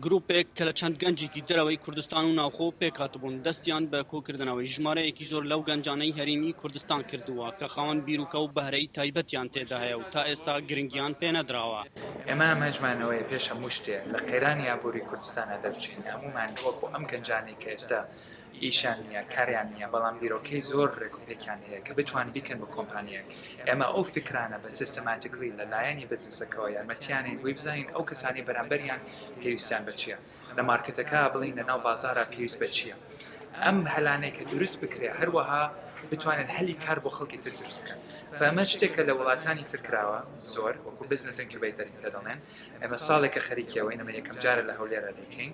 گروپێک کە لە چەند گەنجێکی دەرەوەی کوردستان و ناوخۆ پێکهاتبوون دەستیان بە کۆکردنەوەی ژمارەیەکی زۆر لەو گەنجانەی هەرێمی کوردستان کردووە کە خاوەن بیرروکە و بەهرەی تایبەتیان تێدا هەیە و تا ئێستا گرنگیان پێنەدراوە. ئێمە ئامانجمانەوەیە پێش هەموو شتێ لە قەیرانی ئابووری کوردستانە دەربچین، هەموومان وەکو ئەم گەنجانەی کە ئێستا ئیشیان نیە کاریان نیە بەڵام بیرۆکەی زۆر ڕێک و پێکیان هەیە کە بتوان بیکەن بە کۆمپانیەک ئێمە ئەو فیکرانە بە سیستەماتیکلی لە لایەنی بزنسەکەوە یارمەتیانین بۆی بزانین ئەو کەسانەی بەرامبەریان پێویستیان بە چیە لە مارکێتەکە بڵین لە ناو بازارا پێویست بە چیە ئەم هەلانەی کە دروست بکرێ هەروەها بتوانن هەلی کار بۆ خەڵکی تر دروست بکەن فەمە شتێکە لە وڵاتانی تر کراوە زۆر وەکو بزنس ئینکیوبەیتەر کە دەڵێن ئێمە ساڵێکە خەریکیەوەین ئەمە یەکەم جارە لە هەولێرا دەیکەین.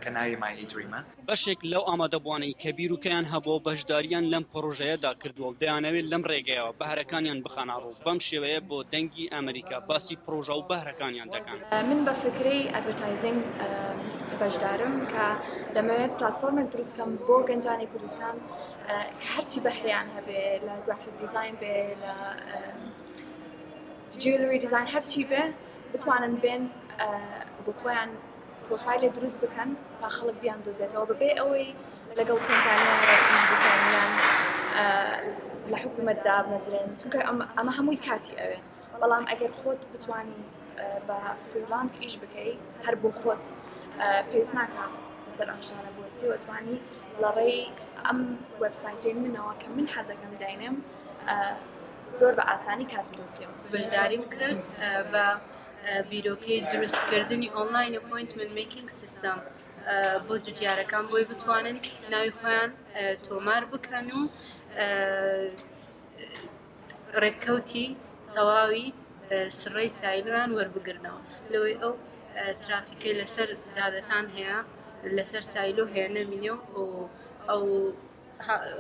کە ناوی مای ای دریمە. بەشێک لەو ئامادەبووانەی کە بیروکەیان هەبووە و بەشدارییان لەم پڕۆژەیەدا کردووە و دەیانەوێت لەم رێگەیەوە بەهرەکانیان بخەنە روو، بەم شێوەیە بۆ دەنگی ئەمەریکا باسی پڕۆژە و بەهرەکانیان دەکەن. من بە فکرەی ئەدڤەرتایزینگ بەشدارم کە دەمەوێت پلاتفۆرمێک دروست کەم بۆ گەنجانی کوردستان کە هەرچی بەهرەیان هەبێ لە گرافیک دیزاین بێ لە جویلری دیزاین هەرچی بێ بتوانن بێن بۆ خۆیان پرۆفایلێ دروست بکەن تا خەڵک بیان دۆزێتەوە بەبێ ئەوەی لەگەڵ کۆمپانیان لە حکوومەت دابمەزرێن چونکە ئەمە هەمووی کاتی ئەوێ بەڵام ئەگەر خۆت بتانی بە فریلانس ئیش بکەیت هەر بۆ خۆت پێویست ناکە سەر ئەم شانە بۆستی وەتوانی لە ڕێی ئەم وەبسایتی منەوە کە من حەزەکەم داینێم زۆر بە ئاسانی کات دۆسیەوە بەشداریم کرد بە بیرۆکەی دروستکردنی ئۆنلاین ئەپۆینتمنت میکینگ سیستەم بۆ جوتیارەکان بۆی بتوانن ناوی خۆیان تۆمار بکەن و ڕێککەوتی تەواوی سڕی سایلویان وەربگرنەوە لەوەی ئەو ترافیکە لەسەر جادەکان هەیە لەسەر سایلۆ هەیە نەمینێ و ئەو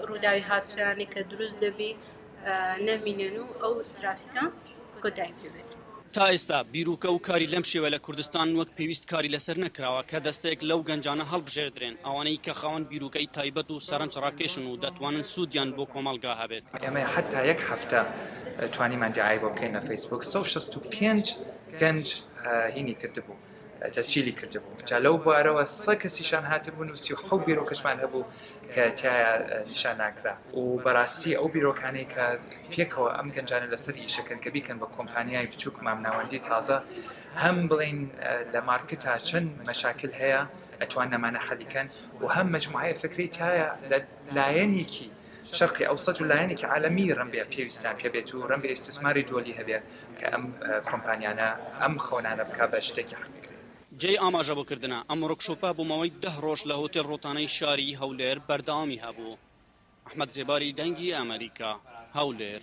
ڕووداوی هاوچەرانی کە دروست دەبی نەمینێن و ئەو ترافیکە کۆتایی پێبێت. تا ئێستا بیرۆکە و کاری لەم شێوە لە کوردستان وەک پێویست کاری لەسەر نەکراوە کە دەستەیەک لەو گەنجانە هەڵبژێردرێن ئەوانەی کە خاوەن بیرۆکەی تایبەت و سەرنج ڕاکێشن و دەتوانن سوودیان بۆ کۆمەڵگا هەبێت. ئێمە هەتا یەک هەفتە توانیمان دیعای بۆ بکەین لە فەیسبووک سەد و شەست و پێنج گەنج هینی کردبوو. تەسجیلی کردبوو جا لەو بوارەوە سە کەسیشان هاتبوون و سی و حەوت بیرۆکەشمان هەبوو کە تایە نیشان ناکرا و بەڕاستی ئەو بیرۆکانەی کە پێکەوە ئەم گەنجانە لەسەر ئیشەکەن کە بیکەن بە کۆمپانیای بچووک مامناوەندی تازە هەم بڵین لە مارکتا چەند مەشاکل هەیە ئەتوان نەمانە حەلیکەن و هەم مجموعەیە فکری تایە لە لایەنێکی شەرقی ئەوسەت و لایەنێکی عالەمی رەنبێ پێویستیان پێبێت و رەنبێ ئیستسماری دۆلی هەبێ کە ئەم کۆمپانیانە ئەم خەونانە بکا بە شتێکی حەقیقی. جێی ئاماژەبوکردنە، ئەم وڕکشۆپە بۆ ماوەی دە رۆژ لە هۆتێل روتانەی شاری هەولێر بەردەوامی هەبوو. ئەحمەد زێباری دەنگی ئەمەریکا، هەولێر.